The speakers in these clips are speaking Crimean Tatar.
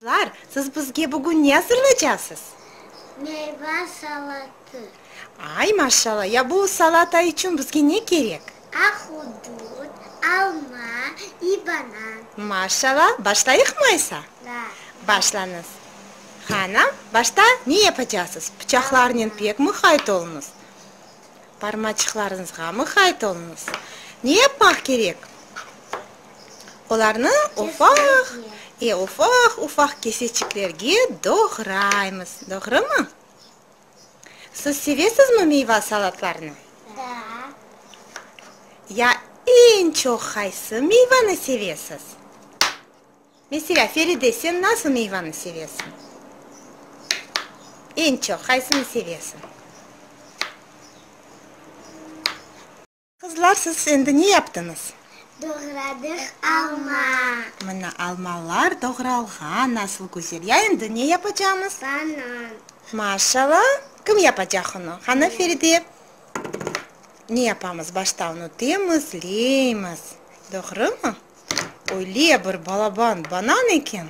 Qızlar, siz bizge bugün ne azırlaycaqsız? Meyva salatı. Ay, maşallah! Ya bu salata içün bizge ne kerek? Ahudut, alma i banan. Maşallah! Başlayıqmı aysa? Da. Başlañız. Qana, başta ne yapacaqsız? Pıçaqlarnen pek muhayt oluñız. Barmaçıqlarıñızğa mıqayt oluñız. Ne yapmaq kerek? Olarnı ufaq, e, ufaq-ufaq keseçiklerge doğraymız, doğrumı? Siz sevesizmi meyva salatlarını? Da. Ya eñ çoq qaysı meyvanı sevesiz? Meselâ, Feride, sen nasıl meyvanı sevesiñ? Eñ çoq qaysını sevesiñ? Qızlar, siz endi ne yaptıñız? Doğradıq alma. Mına, almalar doğralğan, nasıl güzel! Ya endi ne yapacamız? Banan. Maşalla! Kim yapacaq onı? Qana, Feride, ne yapamız? Başta onı temiz leymiz, doğrumı? Öyle bir balaban banan eken!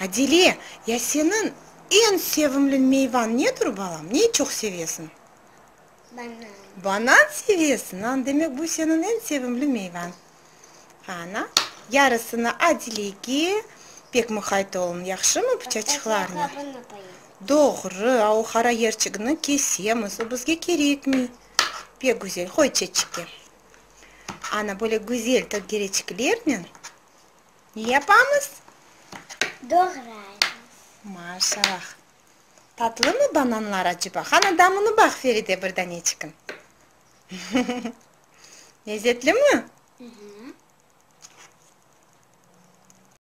Adile, ya seniñ eñ sevimli meyvañ nedir, balam? Ne çoq sevesiñ? Banan. Banan sevesiñ? Aa, demek, bu seniñ eñ sevimli meyvañ. Ana, yarısını Adilege, pek muqayt oluñ, yahşımı, pıçaçıqlarnı? Başta qabını qoyıñ. Doğru, a o qara yerçigini kesemiz, o bizge kerekmey. Pek güzel, qoy çeçikke. Ana, böyle güzel tökereçiklernen ne yapamız? Doğraymız. Maşallah. Tatlımı bananlar aceba? Qana, damını baq, Feride, bir daneçikin. Lezetlimi?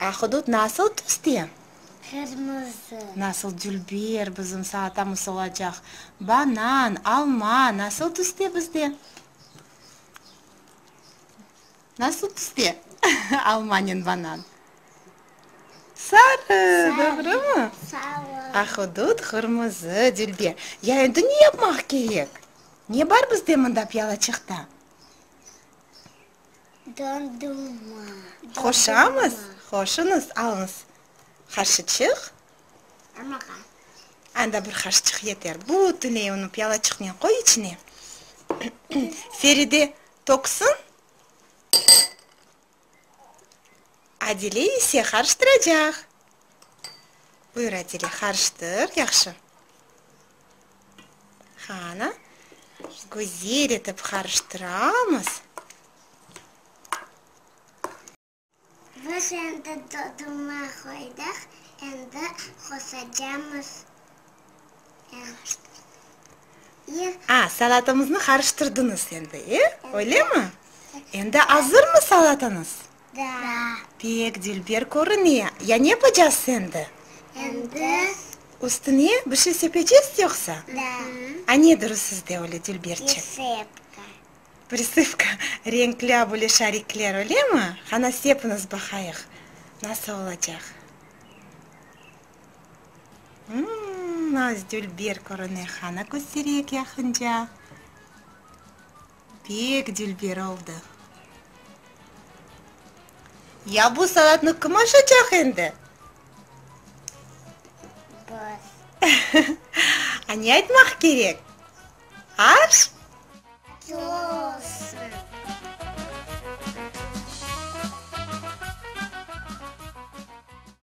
Ahudut nasıl tüste? Qırmızı. Nasıl dülber bizim salatamız olacaq? Banan, alma nasıl tüste bizde? Nasıl tüste almanen banan? Sarı, doğrumı? Sarı. Ahudut qırmızı, dülber. Ya endi ne yapmaq kerek? Ne bar bizde mında piyalaçıqta? Dondurma. Qoşamız, qoşunız, alıñız. Qaşıçıq. Damağa. Anda bir qaşıçıq yeter. Bütünley onı piyalaçıqnen qoy içine. Feride töksün. Adile ise qarıştıracaq. Buyur, Adile, qarıştır yahşı. Qanı güzel etip qarıştıramız. Biz endi doduma qoydıq, endi qosacamız. A, salatamıznı qarıştırdıñız endi, e, öylemi? Endi azırmı salatañız? Da. Pek dilber körüne. Ya ne yapacağız endi? Endi? Üstüne bir şey sepecez yoqsa? Da. A ne durı sizde öyle dilberçe? Prisıpka. Prisıpka, renkli böyle şarikler, öyle mi? Qana sepiñiz baqayıq, nasıl olacaq? Mmm, az dilber körüne, qana köstereyik yaqınca. Pek dülber oldı. Ya bu saatnı kim aşacaq endi? Biz. A ne aytmaq kerek? Aş? Olsun.